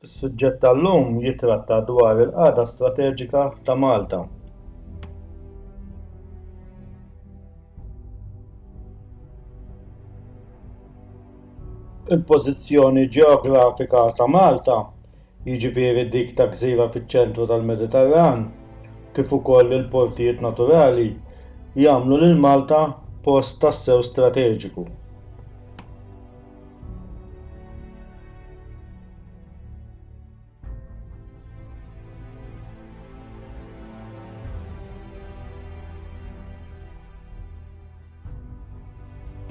Is-suġġett tal-lum jittratta dwar il-qagħda strateġika ta' Malta. Il-pożizzjoni ġeografika ta' Malta, jiġifieri dik ta' gżira fiċ-ċentru tal-Mediterran, kif ukoll il-portijiet naturali, jagħmlu lil Malta post tassew strateġiku.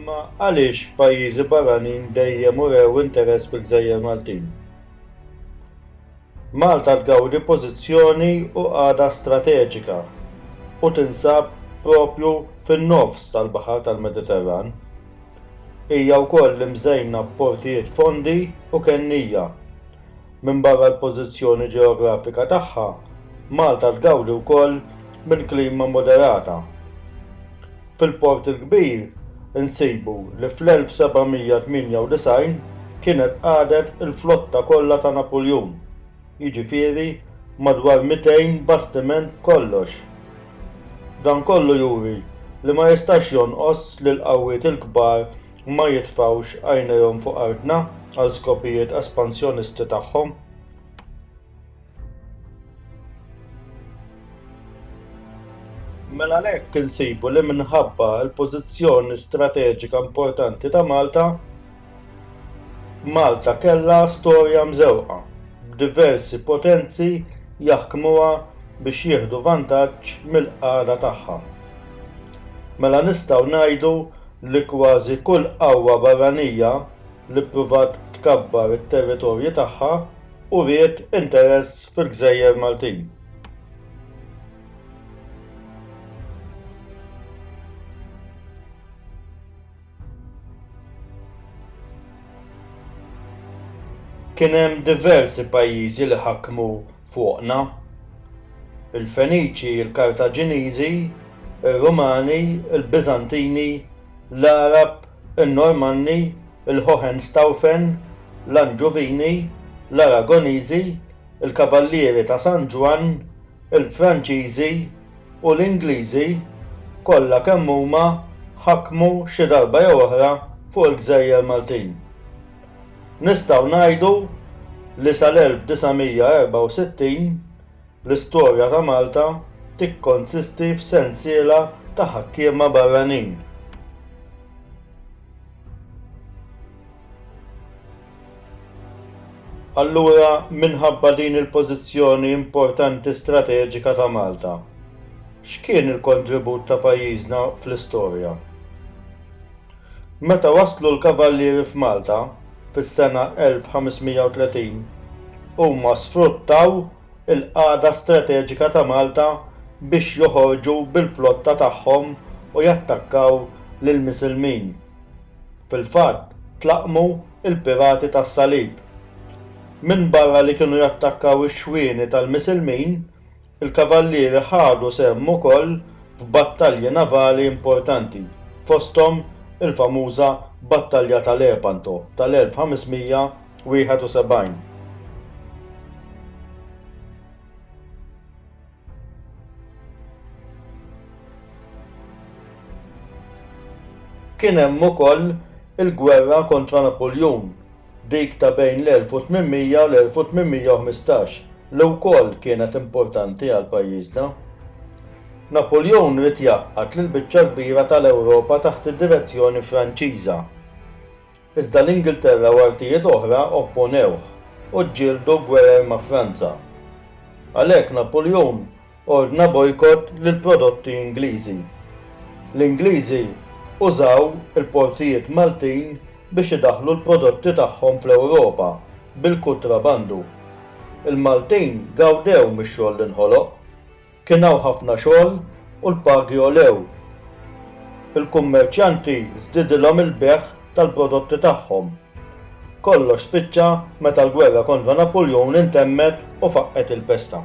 Ma għaliex pajjiżi barranin dejjem urew interess fil-gżejjer Maltin? Malta tgawdi pożizzjoni u qagħda strateġika u tinsab proprju fin-nofs tal-baħar tal-Mediterran. Hija wkoll imżejna b'portijiet fondi u kennija. Minbarra l-pożizzjoni ġeografika tagħha, Malta tgawdi wkoll minn klima moderata. Fil-Port il-Kbir insibu li fl-1798 kienet qagħdet il-flotta kollha ta' Napuljun, jiġifieri madwar 200 bastiment b'kollox. Dan kollu juri li ma jistax jonqos li l-qawwiet il-kbar ma jitfgħux għajnejhom fuq artna għal skopijiet espansjonisti tagħhom. Mela għalhekk insibu li minħabba l-pożizzjoni strateġika importanti ta' Malta, Malta kellha storja mżewqa b'diversi potenzi jaħkmuha biex jieħdu vantaġġ mill-qagħda tagħha. Mela nistgħu ngħidu li kważi kull qawwa barranija li ppruvat tkabbar it-territorji tagħha uriet interess fil-gżejjer Maltin. Kien hemm diversi pajjiżi li ħakmu fuqna. Il-Feniċi, il-Kartaġiniżi, ir-Rumani, il-Biżantini, l-Għarab, in-Normanni il-Hohenstaufen, l-Anġuvini, l-Aragoniżi, il-Kavallieri ta' San Ġwann, il-Franċiżi u l-Ingliżi, kollha kemm huma ħakmu xi darba jew oħra fuq il-gżejjer Maltin. Nistgħu ngħidu li sal-1964 l-istorja ta' Malta tikkonsisti f'sensiela ta' ħakkiema barranin. Allura, minħabba din il-pożizzjoni importanti strateġika ta' Malta, x'kien il-kontribut ta' pajjiżna fl-istorja? Meta waslu l-Kavallieri f'Malta, fis-sena 1530, huma sfruttaw il-qagħda strateġika ta' Malta biex joħorġu bil-flotta tagħhom u jattakkaw lill-Misilmin. Fil-fatt tlaqqmu l-pirati tas-Salib. Minbarra li kienu jattakkaw ix-xwieni tal-Misilmin, il-Kavallieri ħadu sehem ukoll f'battalji navali importanti, fosthom il-famuża Battalja ta' Lepanto tal-1500, 71 Kien hemm ukoll il-gwerra kontra Napuljun, dik ta' bejn l-1800 u l-1815, li wkoll kienet importanti għal pajjiżna. Napuljun ried jgħaqqad lill-biċċa l-kbira tal-Ewropa taħt id-direzzjoni Franċiża. Iżda l-Ingilterra u artijiet oħra opponewh u ġġieldu gwerer ma' Franza. Għalhekk Napuljun ordna bojkott lill-prodotti Ingliżi. L-Ingliżi użaw il-portijiet Maltin biex idaħħlu l-prodotti tagħhom fl-Ewropa bil-kutrabandu. Il-Maltin gawdew mix-xogħol li nħoloq. Kien hawn ħafna xogħol u l-pagi għolew. Il-kummerċjanti żdiedilhom il-bejgħ tal-prodotti tagħhom. Kollox spiċċa meta l-gwerra kontra Napuljun intemmet u faqqgħet il-pesta.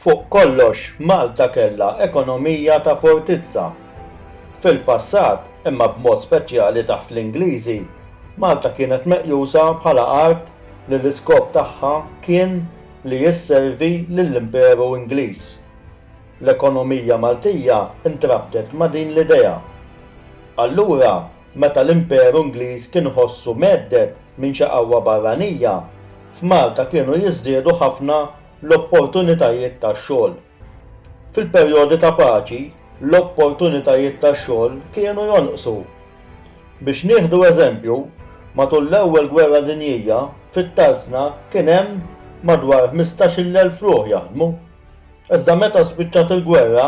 Fuq kollox, Malta kellha ekonomija ta' fortizza. Fil-passat, imma b'mod speċjali taħt l-Ingliżi, Malta kienet meqjusa bħala art li l-iskop tagħha kien li isservi lill-Imperu Ingliż. L-ekonomija Maltija ntrabtet ma' din l-idea. Allura, Meta l-Imperu Ingliż kien iħossu mhedded minn xi qawwa barranija, f'Malta kienu jiżdiedu ħafna l-opportunitajiet ta' xogħol. Fil-perjodi ta' paċi, l-opportunitajiet ta' xogħol kienu jonqsu. Biex nieħdu eżempju, matul l-Ewwel Gwerra Dinjija, fit-Tarzna kien hemm madwar ħmistax-il elf ruħ jaħdmu. Iżda meta spiċċat il-gwerra,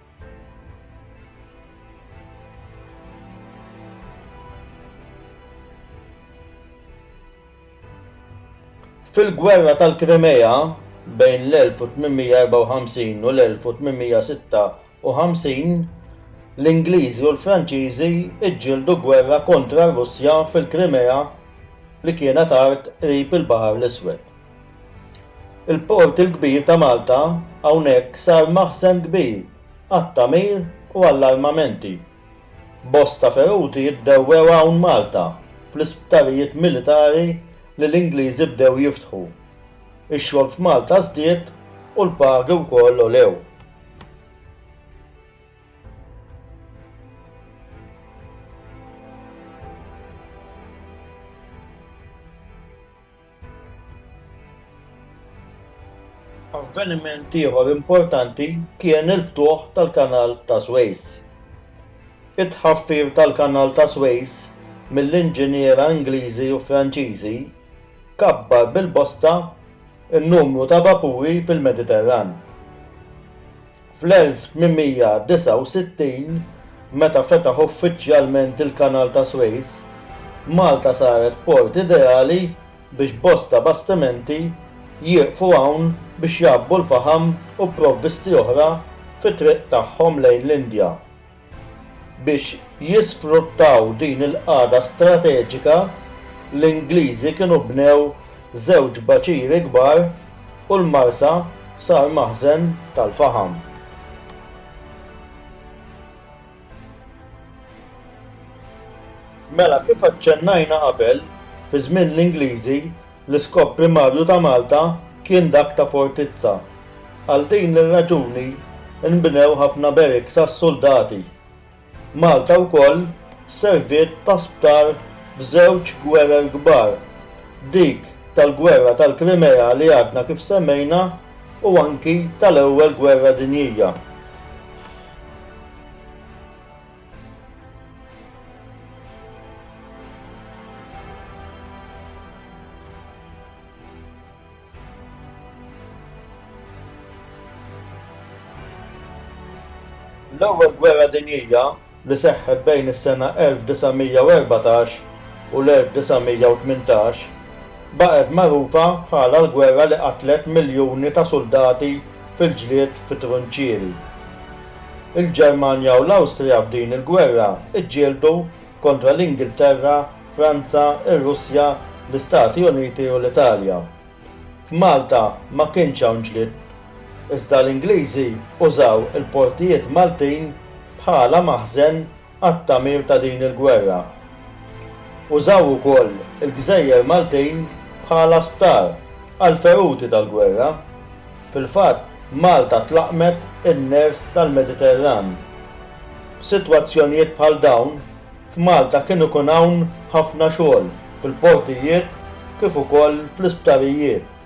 Fil-Gwerra tal-Krimea bejn l-1854 u l-1856, l-Ingliżi u l-Franċiżi ġġieldu gwerra kontra r-Russja fil-Krimea li kienet art qrib il-Baħar l-Iswed. Il-Port il-Kbir ta' Malta hawnhekk sar maħżen kbir għat-tagħmir u għall-armamenti. Bosta feruti jiddewwew hawn Malta fl-isptarijiet militari li l-Ingliżi bdew jiftħu. Ix-xogħol f'Malta żdied u l-pagi wkoll għolew. Avveniment ieħor importanti kien il-ftuħ tal-Kanal ta' Swejs. It-tħaffir tal-Kanal ta' Swejs mill-inġiniera Ingliżi u Franċiżi kabbar bil-bosta n-numru ta' vapuri fil-Mediterran. Fl-1869, meta fetaħ uffiċjalment il-Kanal ta' Suez, Malta saret port ideali biex bosta bastimenti jieqfu hawn biex jgħabbu l-faħam u provvisti oħra fit-triq tagħhom lejn l-Indja. Biex jisfruttaw din il-qagħda strateġika, l-Ingliżi kienu bnew żewġ baċiri kbar u l-Marsa sar maħżen tal-faħam. Mela, kif aċċennajna qabel, fi żmien l-Ingliżi, L-iskop primarju ta' Malta kien dak ta' fortizza. Għal din ir-raġuni nbnew ħafna barracks għas-suldati. Malta wkoll serviet ta' sptar f'żewġ gwerer kbar, dik tal-Gwerra tal-Krimea li għadna kif semmejna u anki tal-Ewwel Gwerra Dinjija. L-Ewwel Gwerra Dinjija, li seħħet bejn is-sena 1914 u l-1918, baqgħet magħrufa bħala l-gwerra li qatlet miljuni ta' suldati fil-ġlied fit-trunċieri. Il-Ġermanja u l-Awstrija f'din il-gwerra ġġieldu kontra l-Ingilterra, Franza, ir-Russja, l-Istati Uniti u l-Italja. F'Malta ma kienx hawn ġlied, iżda l-Ingliżi użaw il-portijiet Maltin bħala maħżen għat-tagħmir ta' din il-gwerra. Użaw ukoll il-gżejjer Maltin bħala sptar għall-feruti tal-gwerra. Fil-fatt, Malta tlaqqmet in-ners tal-Mediterran. F'sitwazzjonijiet bħal dawn, f'Malta kien ikun hawn ħafna xogħol fil-portijiet kif ukoll fl-isptarijiet.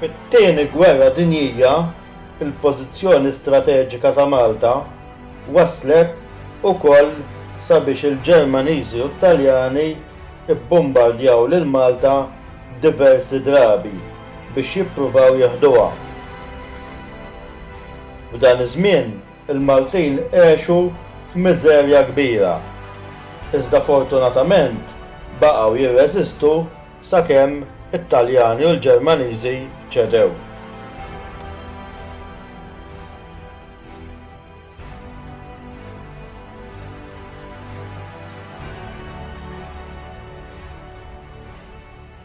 Fit-Tieni Gwerra Dinjija, il-pożizzjoni strateġika ta' Malta wasslet ukoll sabiex il-Ġermaniżi u t-Taljani bbombardjaw lil Malta diversi drabi biex jippruvaw jeħduha. F'dan iż-żmien, Il-Maltin għexu f'miżerja kbira, iżda fortunatament baqgħu jirreżistu sakemm it-Taljani u l-Ġermaniżi ċedew.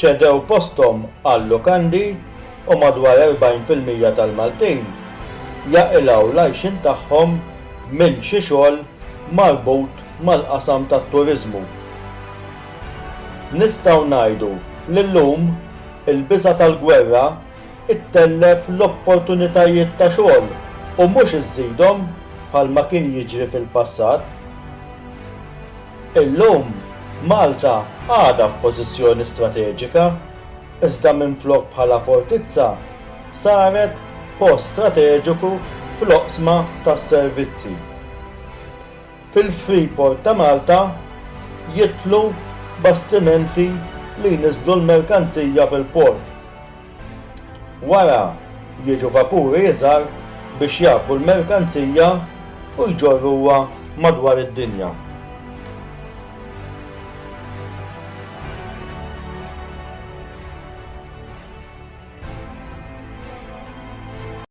ċedew posthom għal-lukandi u madwar 40 fil-mija tal-Maltin jaqilgħu l-għajxien tagħhom minn xi xogħol marbut mal-qasam tat-turiżmu. Nistgħu ngħidu li llum il-biża' tal-gwerra ttellef l-opportunitajiet ta' xogħol u mhux iżżidhom bħalma kien jiġri fil-passat. Illum, Malta għadha f'pożizzjoni strateġika, iżda minflok bħala fortizza, saret post strateġiku fl-oqsma tas-servizzi. Fil-Freeport ta' Malta jidħlu bastimenti li jniżżlu l-merkanzija fil-port. Wara jiġu vapuri iżgħar biex jgħabbu l-merkanzija u jġorruha madwar id-dinja.